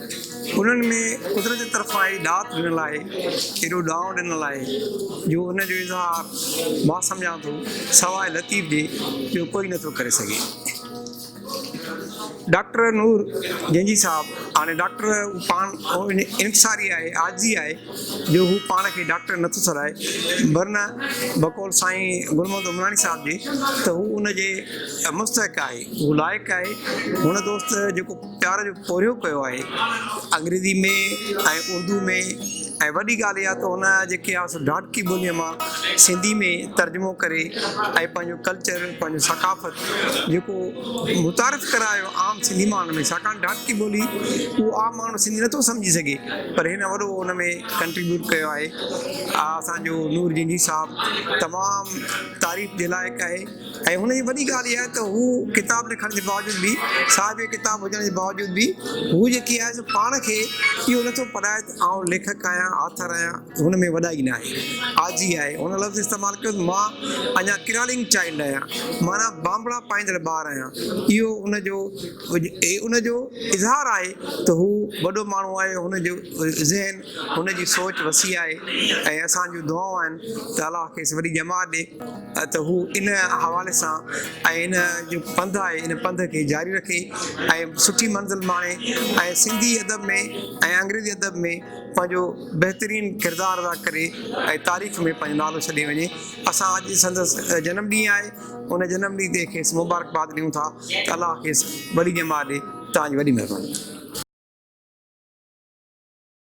انهن ۾ قدرت طرفان اهڙي ڏات ڏنل آهي، ايڏو ڏانء ڏنل آهي، جو ان جو اظهار مان سمجهان ٿو سواء لطيف جي ٻيو ڪوئي نه ٿو ڪري سگهي. ڊاڪٽر نور گينجي صاحب هاڻي ڊاڪٽر هو پاڻ اهڙي انڪساري آهي، عاجزي آهي، جو هو پاڻ کي ڊاڪٽر نه ٿو سڏائي، ورنه بقول سائين گل محمد عمراڻي صاحب جي ته هو ان جي مستحق آهي، هو لائق آهي، هن دوست جيڪو. پيار جو پورهيو ڪيو آهي انگريزي ۾ ۽ اردو ۾ ۽ وڏي ڳالهه اها ته هن جا جيڪي آس ڊاٽڪي ٻوليء مان سنڌي ۾ ترجمو ڪري ۽ پنهنجو ڪلچر پنهنجو ثقافت جيڪو متعارف ڪرايو عام سنڌي ماڻهن ۾ ڇاڪاڻ ڊاٽڪي ٻولي اهو عام ماڻهو سنڌي نٿو سمجهي سگهي پر هن وڏو ان ۾ ڪنٽريبيوٽ ڪيو آهي اسانجو نور جنگي صاحب تمام تعريف جي لائق آهي ۽ هن جي وڏي ڳالهه اها آهي ته هو ڪتاب نه کڻڻ جي باوجود به صاحب ڪتاب هجڻ جي باوجود به هو جيڪي آهي سو پاڻ کي اهو نه ٿو پرائي ته آئون ليکڪ آهيان آٿر آهيان هن ۾ وڏائي نه آهي عاجزي آهي هن لفظ استعمال ڪيو ته مان اڃا ڪرالنگ چائلڊ آهيان معنيٰ بانبڙا پائيندڙ ٻار آهيان اهو هن جو ان جو اظهار آهي ته هو وڏو ماڻهو آهي هن جو ذهن هن جي سوچ وسيع آهي ۽ اسان جون دعائون آهن ته الله کيس وڏي ڄمار ڏي ته هو ان حوالي سان ۽ هن جو پنڌ آهي ان پنڌ کي جاري رکي ۽ سٺي منزل ماڻي ۽ سنڌي ادب ۾ ۽ انگريزي ادب ۾ پنهنجو بهترين ڪردار ادا ڪري ۽ تاريخ ۾ پنهنجو نالو ڇڏي وڃي اسان اڄ سندس جنم ڏينهن آهي ان جنم ڏينهن تي کيس مبارڪباد ڏيون ٿا ته الله کيس وڏي ڄمار ڏي توهان جي وڏي مهرباني